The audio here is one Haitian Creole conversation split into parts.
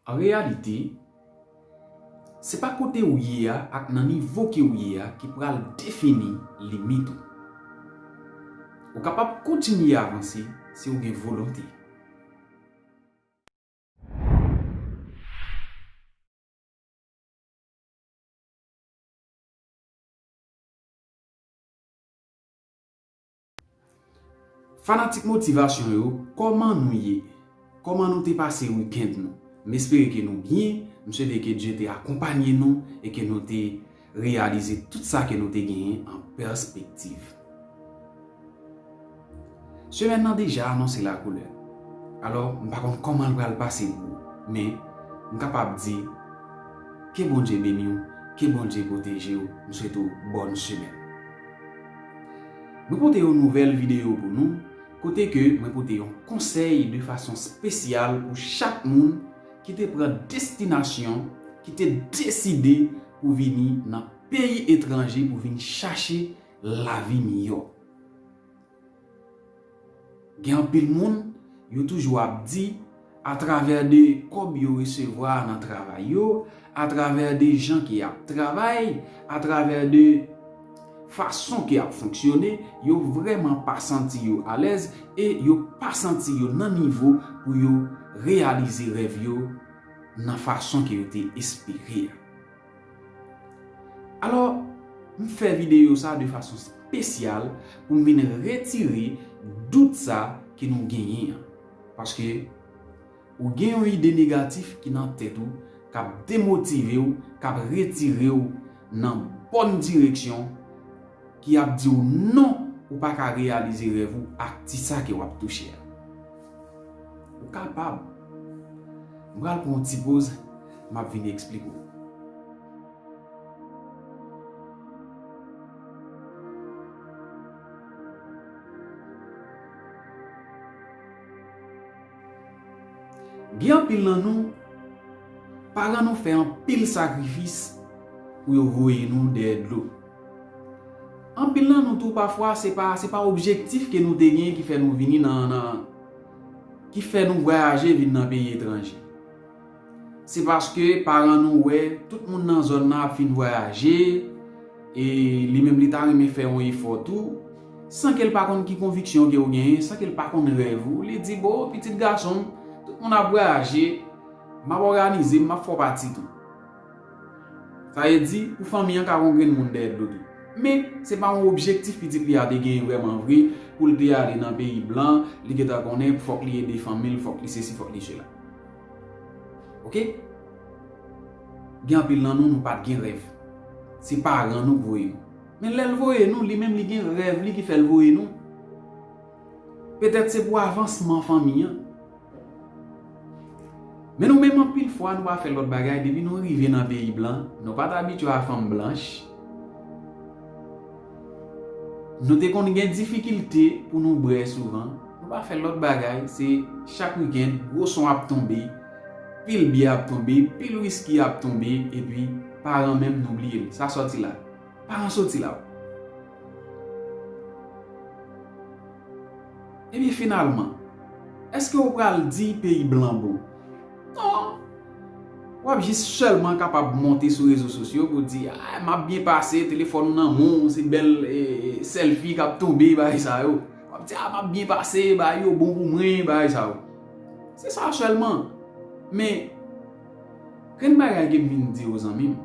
An reyalite, se pa kote ou ye a ak nan nivo ke ou ye a ki pral defini limit ou. Ou kapab kontinye avanse si ou gen volonte. Fanatik motivasyon yo kòman nou ye? Kòman nou te pase weekend nou? M espere ke nou byen, m swete ke Dye te akonpanye nou e ke nou te reyalize tout sa ke nou te genyen an pèspektiv. Semèn nan deja anonse la koulè, alò m pa konn kòman l pral pase pou ou, men m kapab di ke Bondye beni w, ke Bondye pwoteje w, m swete w bòn semèn. Mwen pote yon nouvèl videyo pou nou kote ke mwen pote yon konsèy de fason spesyal pou chak moun ki te pran destinasyon, ki te deside pou vini nan peyi etranje pou vin chache lavi miyò. Gen anpil moun, yo toujou ap di, atravè de kòb yo resevwa nan travay yo, atravè de jan ke y ap travay, atravè de fason ke y ap fonksyone, yo vrèman pa santi yo alèz e yo pa santi yo nan nivo pou yo reyalize rèv yo nan fason ke yo te espere a. Alò, m fè videyo sa de fason spesyal pou m vin retire dout sa ke nou genyen an. Paske, ou gen yon ide negatif ki nan tèt ou k ap demotive w, k ap retire w nan bòn direksyon, ki ap di w non ou pa ka reyalize rèv ou ak ti sa ke w ap touche a. Ou kapab. M pral pran yon ti poz, m ap vini eksplike w. Gen anpil nan nou, paran nou fè anpil sakrifis pou yo voye nou dèyè dlo. Anpil nan nou tou pafwa se pa se pa objektif ke nou te gen ki fè nou vini nan nan ki fè nou vwayaje vin nan peyi etranje. Se paske paran nou wè tout moun nan zòn nan ap fin vwayaje e li menm li ta renmen fè yon efò tou, san ke l pa konn ki konviksyon ke ou genyen, san ke l pa konn rèv ou, li di bon pitit gason m, tout moun ap vwayaje, m ap òganize m, m ap fè w pati tou. Sa vle di, pou fanmi an ka gen yon grenn moun dèyè dlo tou. Men, se pa yon objektif pitit li a te genyen vrèman vre pou l te ale nan peyi blan, li gen tan konnen fòk li ede fanmi l, fòk li sesi, fòk li sela. Oke? Gen anpil nan nou, nou pa t gen rèv. Se paran nou k voye nou. Men lè l voye nou, li menm li gen rèv li ki fè l voye nou. Petèt se pou avansman fanmi an. Men nou menm anpil fwa nou pa fè lòt bagay depi nou rive nan peyi blan, nou pat abitye a fanm blanch, nou te konn gen difikilte pou nou brè souvan, nou pa fè lòt bagay se chak wikend gwo son ap tonbe, pil byè ap tonbe, pil wiski ap tonbe epi paran menm nou bliye l, sa sòti la. Paran soti la w. Ebyen finalman, èske ou pral di peyi blan bon? Non! W ap jis sèlman kapab monte sou rezo sosyo pou w di, Ay, m ap byen pase, telefòn ou nan men w, se bèl sèlfi k ap tonbe, bagay sa yo. W ap di, A, m ap byen pase, bagay yo bon pou mwen, bagay sa yo. Se sa sèlman. Men, grenn bagay ke m vin di w zanmi m.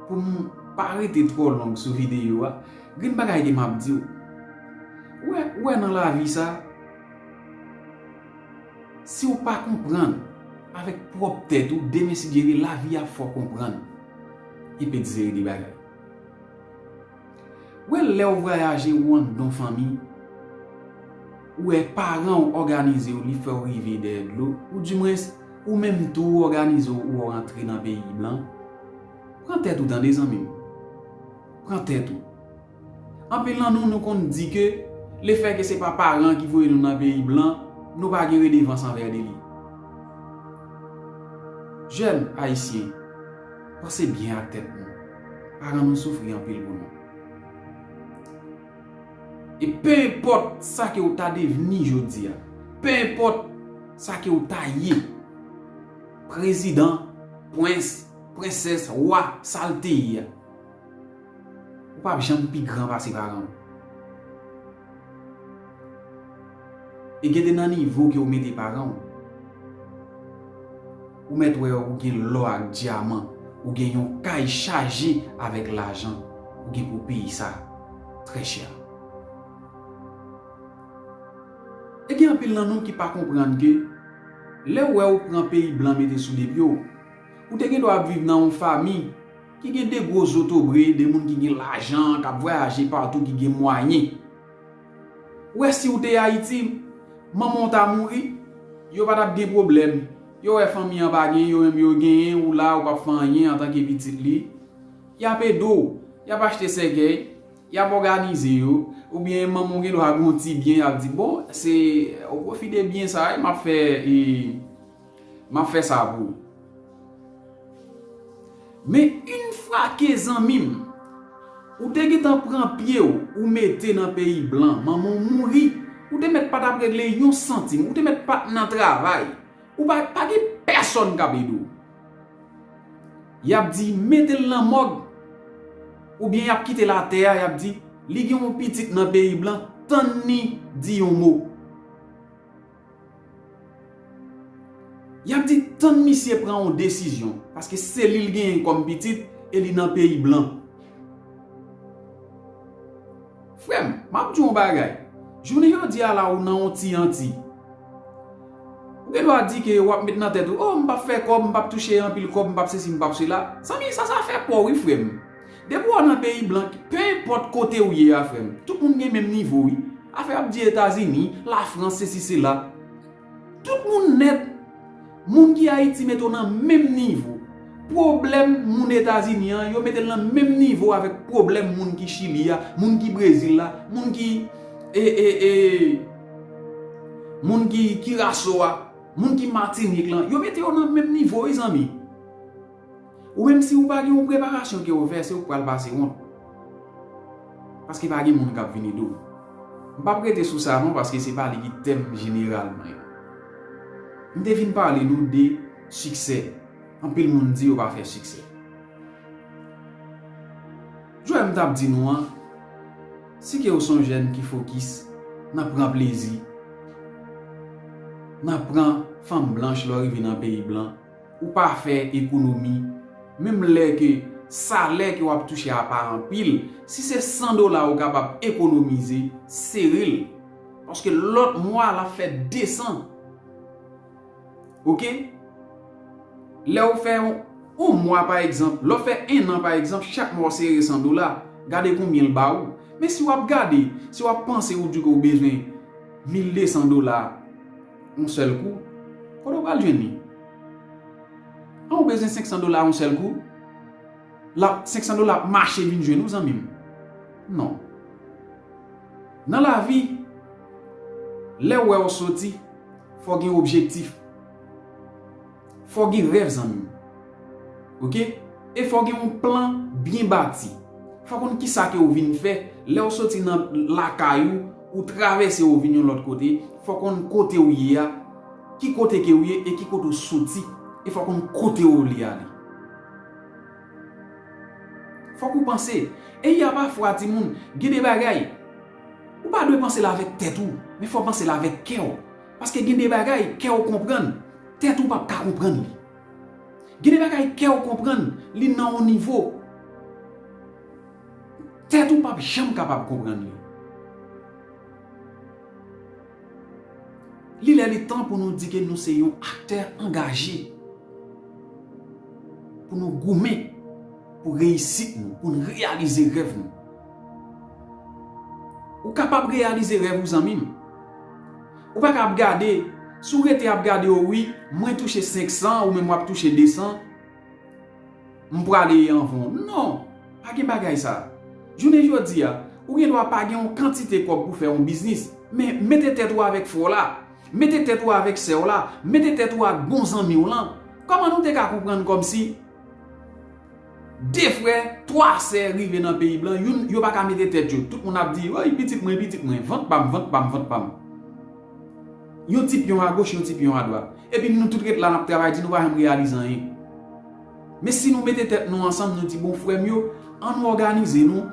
Pou m pa rete twò long sou videyo a, gen bagay ke m ap di w. Ou wè nan lavi sa, si w pa konprann avèk pwòp tèt ou demen sigjere lavi a fè w konprann. Epedzeri de bagay. Wè lèw vrayaje ou andan fanmi ou wè paranw òganizew li fèw rive dèyè dlo ou di mwens ou menm tou ou òganizew ou ou antre nan peyi blan pran tèt ou tande zanmim pran tèt ou anpil nan nou nou konn di ke le fè ke se pa paran ki voye nou nan peyi blan nou pa gen redevans anvè de li jèn ayisyen panse byen ak tèt nou. Paran nou soufri anpil pou nou. E pe enpòt sa ke ou ta devni jodi a, pe enpòt sa ke ou ta ye, prezidan, pwens, pwensès, wa, sa l te ye a, ou pap janm pi gran pase paran ou. E gen de nan nivo ke ou mete paran ou. Ou mèt wè ou gen lò ak dyaman, ou gen yon kay chaje avèk lajan, ou gen pou peye sa trè chè. E gen anpil nan nou ki pa konprann ke lè ou wè ou pran peyi blan mete sou de pye w, ou te gen dwa ap viv nan yon fami ki gen de gwo zotobre, de moun ki gen lajan, k ap vwayaje patou, ki gen mwayen. Wè siw te ayiti manmanw ta mouri yo pa tap gen pwoblèm yo wè fanmi an pa gen yo menm yo genyen ou la ou pap fè anyen antanke pitit li yap edew yap achte sèkèy yap òganize yo oubyen manmanw gen dwa gon ti byen yap di bon se o pwofi de byen sa map fè e Map fè sa pou ou. Men yn fwa ke zanmim. Ou te gentan pran pyew ou mete nan peyi blan manmanw mouri ou te mèt pa tap regle yon santim ou te mèt pat nan travay ou pa pa gen pèsòn kap ede w yap di metel nan mòg oubyen yap kitel atè a yap di li gen yon pitit nan peyi blan tann ni di yon mo. Yap di tann misye pran yon desizyon paske selil genyen kòm pitit e li nan peyi blan. Frèm map diw yon bagay jounen jodi a la ou nan yon ti anti ou gen dwa di ke wap met nan tèt ou oh mpap fè kòb mpap touche anpil kòb mpap sesi mpap sela zanmi sa sa fè paw wi frèm. Depi wap nan peyi blanc pe enpòt kote ou ye a frèm tout moun gen menm nivo wi afè ap di etazini la france sesi sela tout moun nèt moun ki ayiti mete w nan menm nivo pwoblèm moun etazini an yo metel nan menm nivo avèk pwoblèm moun ki chili a moun ki brezil la moun ki ee moun ki kiraso a moun ki matinik lan yo mete yo nan menm nivo wi zanmi. Ou menm si ou pa gen yon preparasyon ke ou fè se ou k pral pase wont. Paske pa gen moun kap vin ede w. M pap rete sou sa non paske se pa li ki tèm jeneral mwen an. M te vin pale nou de siksè. Anpil moun di yo pa fè siksè. Joe m tap di nou an, si ke ou son jèn ki fokis nan pran plezi, nan pran fanm blanch lè w rive nan peyi blan, Ou pa fè ekonomi, menm lè ke salè ke wap touche a pa anpil, si se 100 dola ou kapab ekonomize, sere l. Paske lòt mwa lap fè 200. Ok? Lè ou fè yon mwa pa egzanp, lè ou fè 1 an pa egzanp, chak mwa ou sere 100 dola, gade konbyen l ba ou. Men si wap gade, si wap panse ou di ke ou bezwen 1200 dola, On sèl kou? Kote w pral jwenn li? An ou bezwen 500 dola on sèl kou? Lap, 500 dola ap mache vin jwenn ou zanmi m. Non. Nan lavi, lè ou wè on soti, fò gen objektif. Fò gen rèv zanmi m. Ok e fò gen yon plan byen bati. Fò konn kisa ke ou vin fè lè ou soti nan lakay ou ou travèse ou vin yon lòt kote fò konn kote ou ye a ki kote ke ou ye e ki kote ou soti e fò konn kote ou vle ale. Fòk ou panse e ya pafwa ti moun gen de bagay ou pa dwe panse l avèk tèt ou men fò panse l avèk kè ou. Paske gen de bagay kè w konprann, tèt ou p ap ka konprann li. Gen de bagay kè w konprann, li nan yon nivo, tèt ou p ap janm kapab konprann li. Li lè li tan pou nou di ke nou se yon aktè angaje, pou nou goumen pou reyisit nou, pou nou reyalize rèv nou. Ou kapab reyalize rèv ou zanmim. Ou paka ap gade, si w rete ap gade o wi mwen touche 500 ou menm wap touche 200 m prale e anvan w non pa gen bagay sa jounen jodi a ou gen dwa pa gen yon kantite kòb pou fè yon biznis men mete tèt ou avèk frè w la mete tèt ou avèk sè w la mete tèt ou ak bon zanmi w lan kòman nou te ka konprann kòmsi 2 frè, 3 sè rive nan peyi blan, youn, yo pa ka mete tèt yo. Tout moun ap di, Woy, pitit mwen, pitit mwen. Vant pa m, vant pa m, vant pa m. Yon ti pyon agoch, yon ti pyon adwat. Epi nou tout ret la, n ap travay di, nou pa janm reyalize anyen. Men si nou mete tèt nou ansanm, nou di, bon, frè m yo, an nou òganize nou,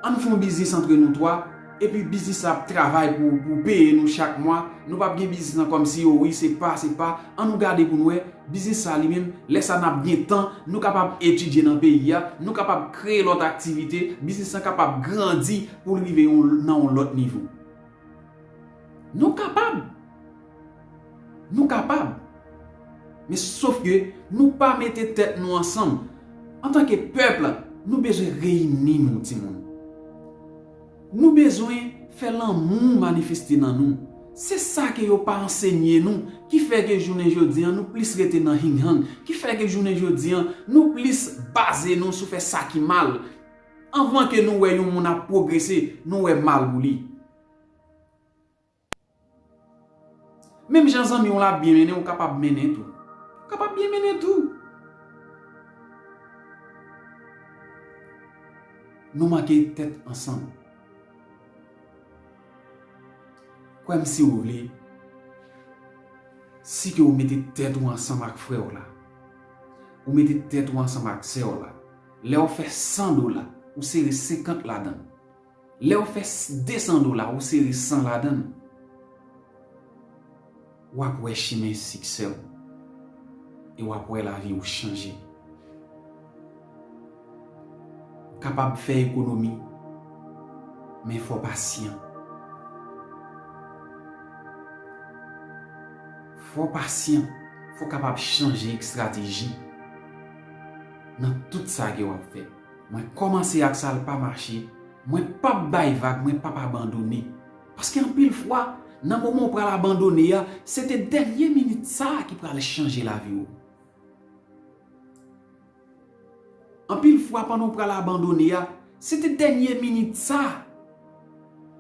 an n fè yon biznis antre nou 3, Epi biznis la ap travay pou pou peye nou chak mwa, nou pap gen biznis nan kòmsi o wi se pa se pa, an nou gade pou nou wè, biznis sa li menm, lè sa nap gen tan, nou kapab etidye nan peyi a, nou kapab kreye lòt aktivite, biznis lan kapab grandi pou l rive yon nan yon lòt nivo. Nou kapab! Nou kapab! Men sof ke nou pa mete tèt nou ansanm, antanke pèp, nou bezwen reyini nou ti moun. Nou bezwen fè lanmou manifeste nan nou. Se sa ke yo pa ansenye nou, ki fè ke jounen jodi an nou plis rete nan hing hang, ki fè ke jounen jodi an nou plis baze nou sou fè sa ki mal. Anvan ke nou wè yon moun ap pwogrese, nou wè mal ou li. Menm jan zanmi w la ap byen mennen ou kapab mennen tou. Ou kapab byen mennen tou. Nou manke tèt ansanm. Kwè m si ou vle, si ke ou mete tèt ou ansanm ak frè w la, ou mete tèt ou ansanm ak sè w la, lè ou fè 100 dola, ou sere 50 ladan l. Lèw fè 200 dola ou sere 100 ladann wap wè chimen siksèw e wap wè laviw chanje. Ou kapab fè ekonomi men fò pasyan. Fò pasyan, fò kapab chanje ekstrateji nan tout sa ke wap fè. Mwen kòmanse ak sa l pa mache, mwen p ap bay vag, mwen p ap abandone. Paske anpil fwa, nan moman ou pral abandone a, se te dènye minit sa a ki pral chanje lavi ou. Anpil fwa pandan ou pral abandone a, se te dènye minit sa a.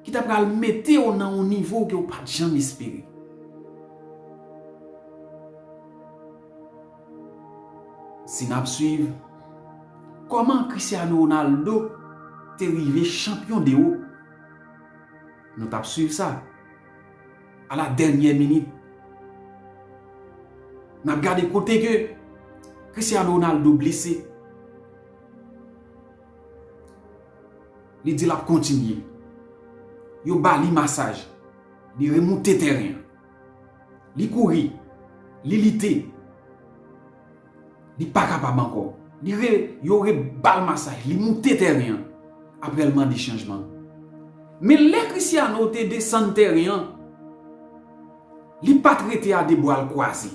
ki ta pral mete w nan yon nivo ke w pa t janm espere. Si n ap swiv, kòman Cristiano Ronaldo te rive chanpyon de ou? Nou t ap swiv sa, a la dènyè minit. N ap gade kote ke Cristiano Ronaldo blese. Li di lap kontinye. Yo ba li masaj. Li remoute tèren an. Li kouri. Li lite. Li pa kapab ankò. Li re, yo re ba l masaj. Li moute tèren an. Aprè l mande chanjman. Men lè Christiano te desann tèren an, Li pa t rete a de bwa l kwaze.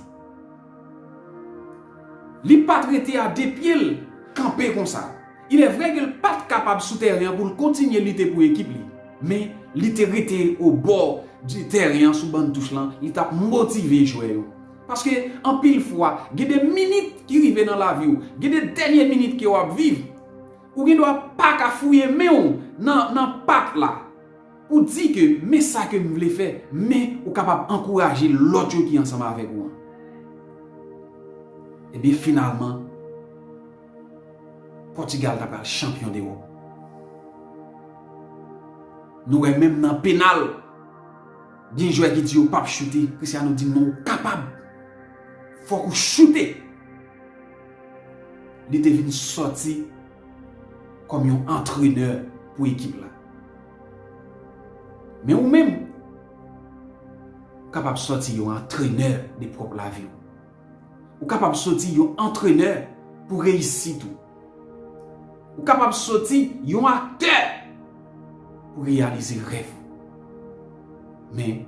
Li pa t rete a de pye l kanpe konsa. Ilèvre ke l pa t kapab sou tèren an pou l kontinye lite pou ekip li, men li te rete obò de tèren an sou ban touch lan, li t ap motive jwè yo. Paske anpil fwa, gen de minit ki rive nan lavi w, gen de dènye minit ke w ap viv, ou gendwa pa ka fouye men w nan pat la. Ou di ke men sa ke m vle fè, men ou kapab ankouraje lòt yo ki ansanm avèk ou an. Ebyen finalman, Pòtigal ta pral chanpyon dewòp. Nou wè menm nan penal, gen jwè ki di yo pap choute, Cristiano di non ou kapab, fòk ou choute. Li te vin sòti. kòm yon antrenè pou ekip la. Men ou menm, ou kapab sòti yon antrenè de pwòp lavi ou. Ou kapab sòti yon antrenè pou reyisit ou. Ou kapab sòti yon aktè pou reyalize rèv ou. Men,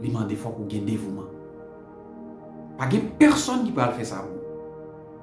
li mande fòk ou gen devouman. Pa gen pèsòn ki pral fè sa pou ou.